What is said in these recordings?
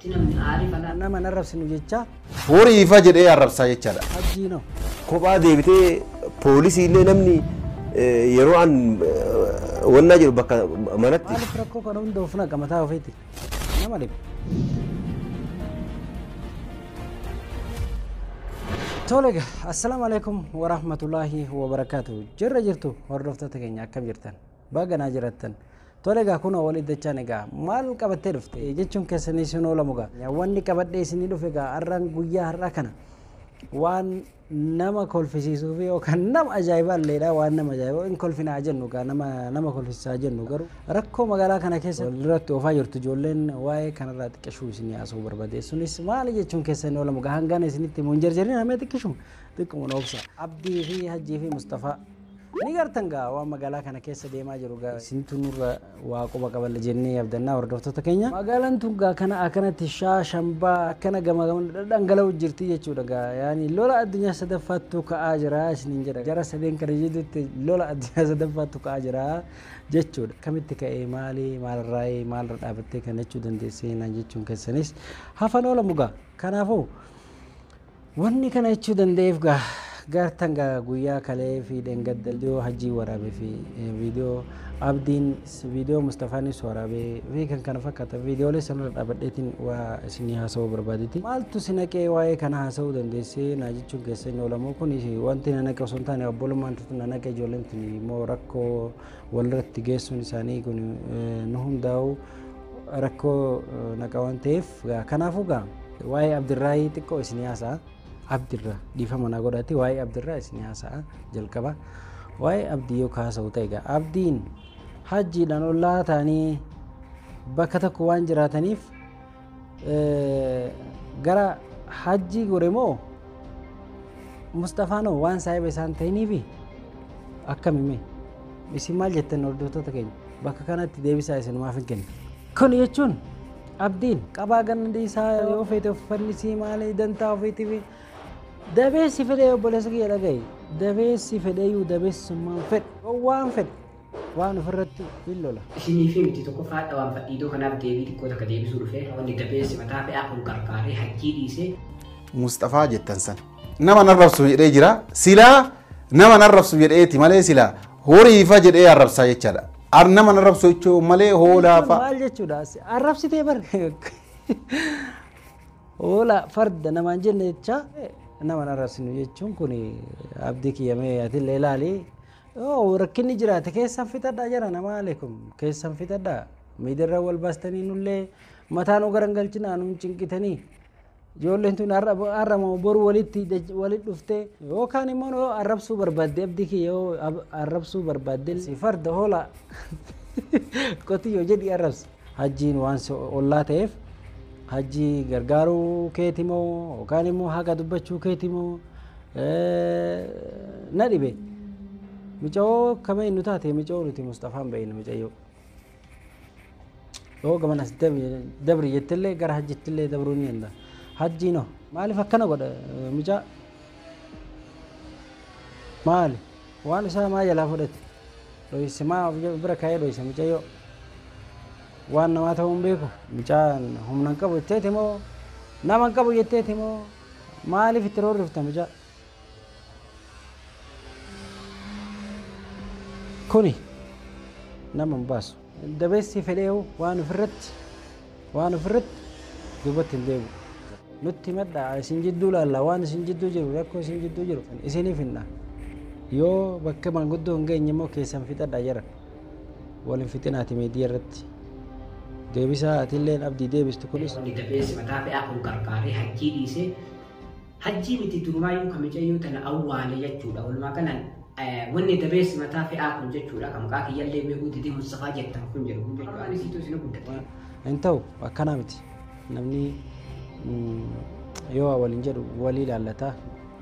Ti namni aare bagaa. Nama hin arrabsinu jechaa. Worii ifa jedhee arrabsaa jechaadha. Abdii no. Kophaa deebitee poolisii illee namni yeroo an wannaa jedhu bakka manatti. Maaliif rakkoo kana hunda of naqa mataa ofiitti nama dhibe. Tole egaa assalaamu alaikum warahmatullaahi wabarakaatu jirra jirtu hordoftoota keenya akkam jirtan Baga naa jirattan. Tole egaa kunoo wal iddachaan egaa maal qabattee dhufte jechuun keessanii isin oolamu egaa wanni qabadhee isinii dhufe egaa har'aan guyyaa har'aa kana waan nama kolfisiisuu fi yookaan nama ajaa'ibaa illeedha waan nama ajaa'ibaa hin kolfinaa jennu egaa nama nama kolfisiisaa jennu garuu rakkoo magaalaa kana keessa duratti oofaa jirtu ijoolleen waa'ee kanarraa xiqqishuu isinii haasa'uu barbaade sunis maali jechuun keessanii oolamu egaa hangana isinitti himu hin jarjarin hamee xiqqishuma xiqquma noobsa abdii fi hajjii fi mustafaa Ni gartan gaa waan magaalaa kana keessa deemaa jiru gaa isintu nurra waa quba qaballa jennee abdannaa hordoftoota keenya. Magaalaan tun gaa kana akkanatti shaa shambaa akkana gama gamana dhadhangala'u jirti jechuudha gaa yaani lola addunyaa sadaffaattu ka'aa jira isiniin jedha jara sadeen kana jidduutti lola addunyaa sadaffaattu ka'aa jira jechuudha akkamitti ka'ee maali maalirraa'ee maalirra dhaabattee kana jechuu dandeessee naan jechuun keessanis hafan oola mugaa kanaafuu Wanni kana jechuu danda'eef gaa gaartan gaa guyyaa kalee fi dhengadda dhiyoo hajjii waraabe fi viidiyoo abdiin viidiyoo mustafaanis waraabe fi kan kana fakkaata viidiyoolee sanarra dhaabadheetiin waa isinii haasa'uu barbaaditi maaltu si naqee waa'ee kana haasa'uu dandeessee naa jechuun keessa hin oolamu kun wanti na naqe osoo hin taane obbolummaan tutu na naqe ijoolleen tuni immoo rakkoo walirratti geessuun isaanii kun nu hundaa'u rakkoo naqa waan ta'eef kanaafuu gaa waa'ee abdirraayii xiqqoo isin haasa'a abdirra dhiifama naa godhaatti waa'ee abdirraa isin haasa'a jalqaba waa'ee abdii yoo kaasa'u ta'e gaa abdiin hajjiidhaan ollaa ta'anii bakka tokko waan jiraataniif gara hajjii gore moo Musxafaan hoo waan saahiba isaan ta'iniifi akkami mee isin maal jettan hordoftoota keenya bakka kanatti deebisaa isin maaf hin kennu. Kun jechuun abdiin qabaa ganna dhiisaa yoo feete uffannisi maali dantaa ofiitiif dabeessi fedhee obboleessa kiyya dhaga'i dabeessi fedheeyyuu dabeessummaan fedhe waan fedhe waan ofirratti hin lola. Isiniifii miti tokkoffaa hadha waan fadhiidoo kanaaf deebii xiqqoo takka deebisuu dhufe wanni dabeessi mataa fe'aa kun qarqaaree hajjii dhiisee. Musxafaa jettan san nama narrabsu jedhee jira silaa nama narrabsu jedheeti malee silaa horiifa jedhee arrabsaa jechaadha. Ar nama narrabsu jechuu malee hoolaafa. Maal jechuudha arrabsitee bar hoolaa farda namaan jenne jechaa nama narrabsinu jechuun kun abdii kiyyamee atillee ilaalii. Yoo rakkinni jiraate keessan fixadhaa jara namaa aleekum keessan fixadhaa miidirra wal baastanii nullee mataa nu garangalchinaa nuun cinqitanii ijoolleen tun har'ama boru walitti walit dhuftee yookaan immoo yoo arrabsuu barbaadde abdii kee yoo arrabsuu barbaadde farda hoolaa qotiyyoo jedhi arrabsi. Hajjiin waan si ollaa ta'eef hajjii gargaaruu keeti moo yookaan immoo haqa dubbachuu keeti moo na dhibe. Micawoo kama inni taate micawoo nuti Musxafaan ba'iin micayyoo. Yoo gaman as dabri jettillee gara hajjittillee dabruu ni danda'a. Hajjiin hoo maaliif akkana godha micaa? Maali? Waan isaa maa jalaa fudhate? Dhoyse maa of bira kaa'ee dhoysa mucayyoo waan namaa ta'uu hin beeku. Mucaan humna hin qabu jetteeti moo nama hin qabu jetteeti moo maaliif itti roorrifta mucaa? Kuni nama hin baasu. Dabeessi fedheewu waan ofirratti Waan ofirratti duubatti hin deebi'u. Nutti himadhaa, isin jidduu laalla, waan isin jidduu jiru, rakkoo isin jidduu jiru isiniif hinna. Yoo bakka maanguddoo hin geenye immoo keessan fixadhaa jedhan. Wal hin fixinaati miidiyaa irratti. Deebisaa atilleen abdii deebistu kunis. Wanni gafeessi mataa fe'aa kun qarqaaree hajjii dhiisee Hajjii miti durumaayyuu ka micayyoo tana awwaale jechuudha walumaa galan wanni dabeessi mataa fe'aa kun jechuudha ka maqaa kiyyallee beekuu didee Mustafaa jettan kun jedhu kun jechuudha ani siitu isin guddate. Hin ta'u akkanaa miti namni yoo waliin jedhu walii ilaallata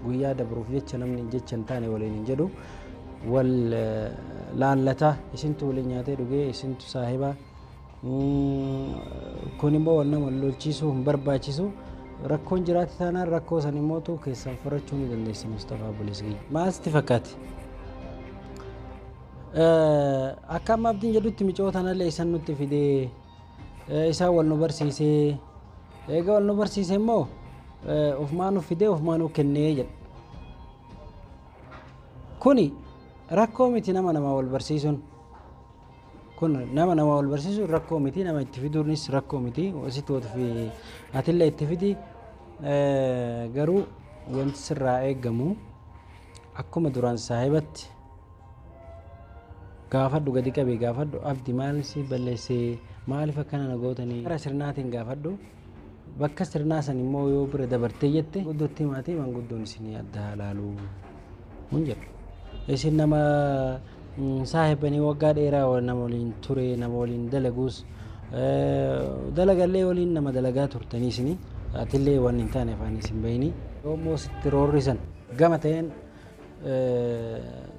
guyyaa dabruuf jecha namni jecha hin taane waliin hin jedhu wal laallata isintu waliin nyaatee dhugee isintu saahiba Kun immoo wal nama lolchiisuu hin barbaachisu. Rakkoon jiraate taanaan rakkoo san immoo tuu keessaan furachuu ni dandeessi Mustafaa Obboleessi kiyya. Maal sitti fakkaate? Akka amma abdiin jedhutti micoo tanallee isan nutti fidee isaan wal nu barsiisee eega wal nu barsiise immoo ofumaa nu fidee ofumaa nu kennee jedha. Kuni rakkoo miti nama namaa wal barsiisuun. Kun nama nama wal barsiisuun rakkoo miti nama itti fiduunis rakkoo miti sitti wal fi atillee itti fidi Eh, garuu wanti sirraa eegamu akkuma duraan saahibatti gaafadhu gadi qabii gaafadhu abdi maal si balleessee maaliif akkana na gootanii gara sirnaatiin gaafadhu Bakka sirnaa san immoo yoo bira dabartee jette guddootti himaatee manguddoon isinii adda haa laalu hin jedhu. Isin nama saahibanii waggaa dheeraa nama waliin ture nama waliin dalaguus dalagallee waliin nama dalagaa turtanii isinii atillee waan hin taane afaan isin bahini. Yoo immoo sitti roorrisan gama ta'een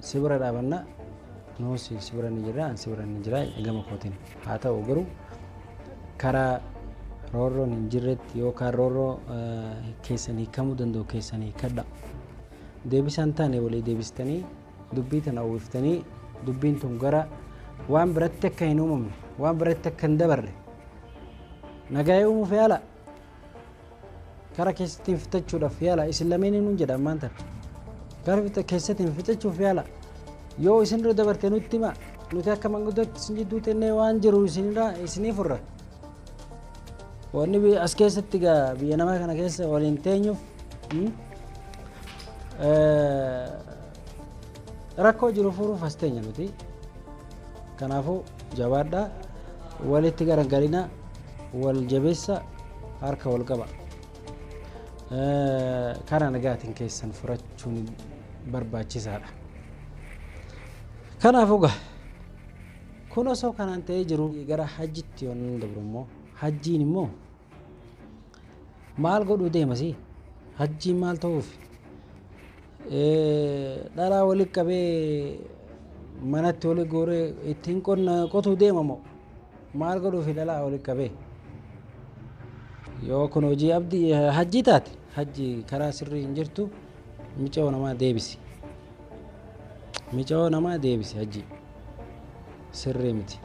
si bira dhaabanna nuus si bira ni jirra an si bira ni jira gama kootiin haa ta'u garuu karaa roorroon hin jirretti yookaan roorroo keessan hiikamuu danda'u keessan hiikadha deebisaan taane walii deebistanii dubbii tana uwwiftanii dubbiin tun gara waan biratti akka hin uumamne waan biratti akka hin dabarre nagaa'ee uumuuf yaala Kara keessattiin fixachuudhaaf yaala isin lameeninuu jedha ammaan tana. Kara fixa- keessattiin fixachuuf yaala yoo isin irra dabarte nutti hima nuti akka manguddootti isin jidduu teennee waan jiru isinirraa isinii furra. Wanni bi- as keessatti gaa biyya namaa kana keessa waliin teenyuuf mm, eh, rakkoo jiru furuuf as teenya nuti. Kanaafuu jabaadhaa walitti garagalinaa Wal jabessa harka wal qaba. Karaa nagaatiin keessan furachuun barbaachisaadha. Kanaaf oga kun osoo kanaan ta'ee jiru gara hajjitti yoon dabru immoo hajjiin immoo maal godhuu deemasi hajjiin maal ta'uuf dhalaa walitti qabee manatti walitti gooree ittiin qotuu deema moo Maal godhuufi dhalaa walitti qabee? Yoo kun hojii abdi hajjii taate hajji karaa sirrii hin jirtu micoo namaa deebisi. Micoo namaa deebisi hajji sirrii miti.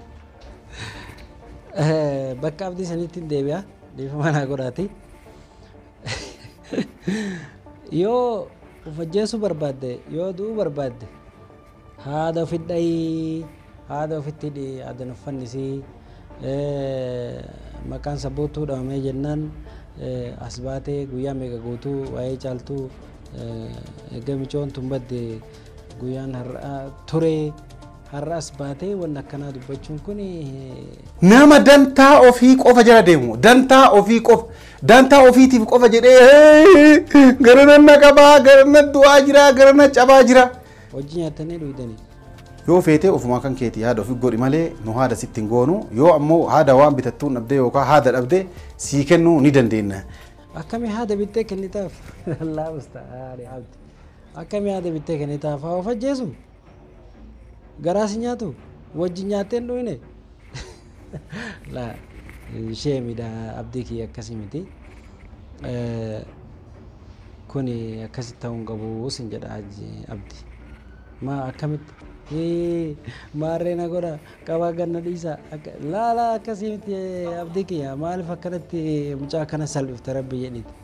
Bakka abdii sanitti hin deebi'a dhiifama naa godhaati. Yoo of ajjeesuu barbaadde yoo du'uu barbaadde Haada ofi dhayi haada ofitti hidhi aadan of fannisi maqaan sabboottuu dhamamee jennaan as baatee guyyaa meeqa guutuu waa'ee caaltuu egaa micoon tun badde guyyaan har'aa turee har'as baatee wanni akkanaa dubbachuun kun Nama dantaa ofii qofa jala deemu dantaa ofii qofa dantaa ofiitiif qofa jedhee garana na qabaa garana du'aa jiraa garana cabaa jiraa. Wajji nyaattanii dhuydanii. Yoo feetee ofumaa kan keetii haada ofi godhi malee nu haada sitti hin goonu yoo ammoo haada waan bitattuun dhabdee yookaan haada dhabdee sii kennuu ni dandeenna. Akkami haada bittee kennitaaf? Lallaa ustaaani abdi. Akkami haada bittee kennitaaf? Haa of ajjeesu? Garaa si nyaatu? Wajji nyaattee hin dhuyne? Laa sheemidha abdii kiyya akkasii miti. Kuni akkasi ta'uu hin qabu sin jedha abdi. Maa akkamitti? Maarree na godha qabaa ganna dhiisa. Laa laa akkasii miti abdii kiyya maaliif akkanatti mucaa akkana salphifta rabbi jedhiti.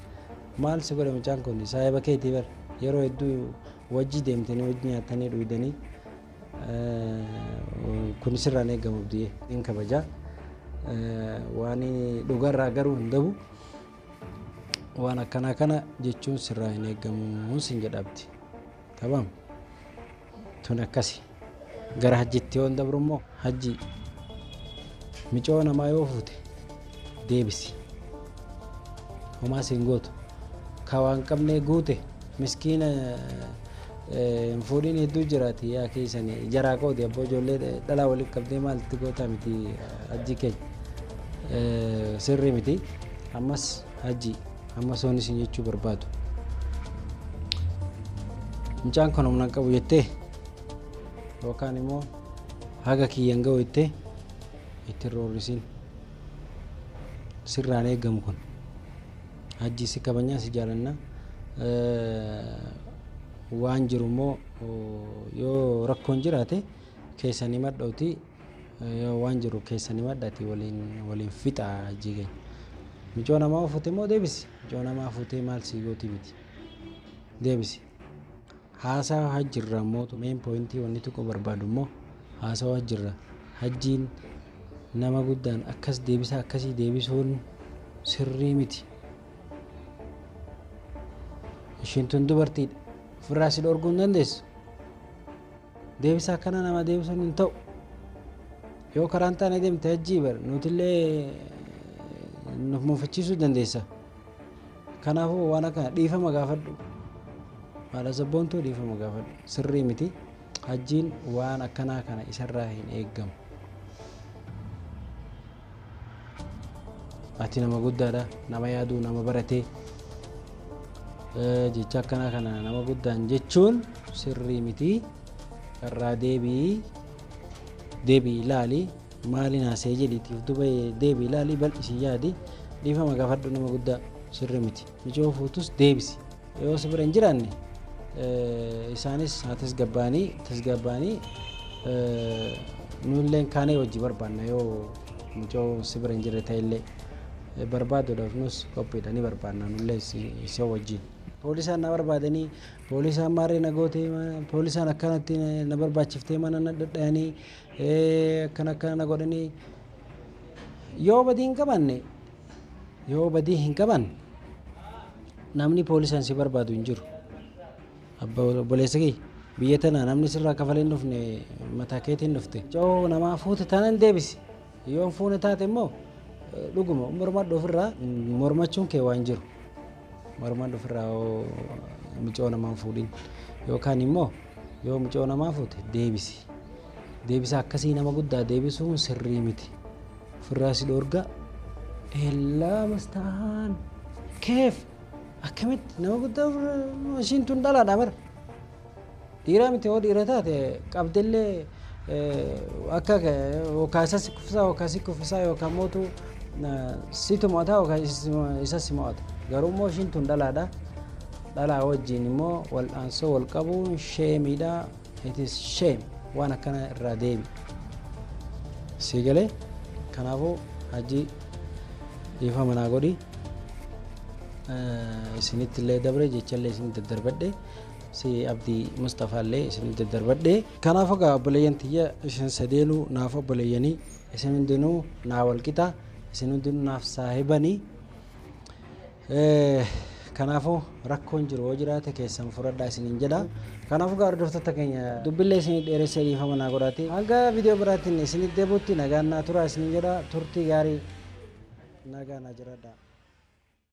Maal si godhe mucaan kun saahiba keetii bar yeroo hedduu wajji deemtanii wajji nyaattanii dhuydanii Kuni sirraa hin eegamu Abdiyee. Hin kabajaa waan dhugarraa garuu hin dabu waan akkanaa kana jechuun sirraa hin eegamu sin jedha Abdi. Tamam tun akkasi gara hajjitti yoon dabru immoo hajji micoo namaa yoo fuute deebisi homaa siin gootu ka waan qabnee guute miskiina hin fuudhiin hedduu jiraati yaa keessan jaraa qoodi abboo ijoollee dhalaa waliin qabdee maalti gootaa miti hajji keenya sirrii miti ammas hajji ammas waan isin jechuu barbaadu mucaan kan humna qabu jettee yookaan immoo haga kiyyan ga'u jettee itti hin roorrisin sirraan eegamu kun hajjii si kabajnaa si jaalanna waan jiru immoo yoo rakkoon jiraate keessan himadhooti yoo waan jiru keessan himadhati waliin waliin fixa hajjii keenya micoo namaa fuute immoo deebisi micoo namaa fuutee maal sii gootii miti deebisi Haasaa hajji irraa immoo main point wanni tuquu barbaadu immoo haasawa hajji irraa hajjiin nama guddaan akkas deebisaa akkasii deebisuun sirrii miti ishiin tun dubartiidha ofirraa si dhorguu hin dandeessu deebisaa akkana nama deebisuun hin ta'u yoo karaan taane deemte hajjii bar nutillee nuf muufachiisuu dandeessa Kanaafuu waan akkana dhiifama gaafadhu. Haadha sabboontuu dhiifama gaafadhu. Sirrii miti. Hajjiin waan akkanaa kana isarraa hin eeggamu. Ati nama guddaadha. Nama yaaduu nama baratee. Eh, Jecha akkanaa kana nama guddaan jechuun sirrii miti. Irraa deebii deebii ilaali. Maalin haasa'e jedhiitii of duba deebi'i ilaali bal'isii yaadi. Dhiifama gaafadhu nama guddaa sirri miti. Michoo fuutus deebisi. Yoo si bira hin jiraanne isaanis haa tasgabbaa'anii tasgabbaa'anii nulleen kaanee hojii barbaanna yoo michoo si bira hin jirre ta'ellee barbaaduudhaaf nus qophiidha ni barbaanna nullee isa wajjin. Poolisaan na barbaadanii poolisaan maarree na gootee poolisaan akkanatti na barbaachiftee mana na dhadhayanii akkana akkana na godhanii yoo badii hin qabanne yoo badii hin qabanne namni poolisan si barbaadu hin jiru abba obboleessa kee biyya tana namni sirraa kafalee hin dhufne mataa keetiin dhufte yoo namaa fuute tanan deebisi yoo hin fuune taate immoo eh, dhuguma mormadhu ofirraa mormachuun kee waan jiru Morman ofirraa micoo namaa hin fuudhin yookaan immoo yoo micoo namaa fuute deebisi. Deebisa akkasii nama guddaa deebisuun sirrii miti. Ofirraa si dhoorgaa. Hellaa mastaan. Keef akkamitti nama guddaa ofirraa ishiin tun dhalaadha bara. Dhiiraa miti hoo dhiira taate qabdellee akka yookaan isa si kuffisaa yookaan si kuffisaa yookaan mootu situ mo'ataa yookaan isa si mo'ata. Garuu immoo ishiin tun dhalaadha. Dhalaa wajjin immoo wal'aansoo wal qabuun sheemiidha. It is shame waan akkana irraa deemi. Sii galee kanaafuu hajji dhiifama naa godhi. Isinitti illee dabre jecha illee isin daddarbadhe. si abdii mustafaa illee isin daddarbadhe kanaaf egaa obboleeyyan tiyya isin sadeenuu naaf obboleeyyanii isin hundinuu naa walqixa isin hundinuu naaf saahibanii Eh, kanaafuu rakkoon jiru yoo jiraate keessan furadhaa isiniin jedha kanaafuu egaa hordoftoota keenya dubbillee isinii dheeressee dhiifama naa godhaati hanga viidiyoo biraatiin isinitti deebi'utti nagaan naa turaa isiniin jedha turtii gaarii nagaa naa jiraadhaa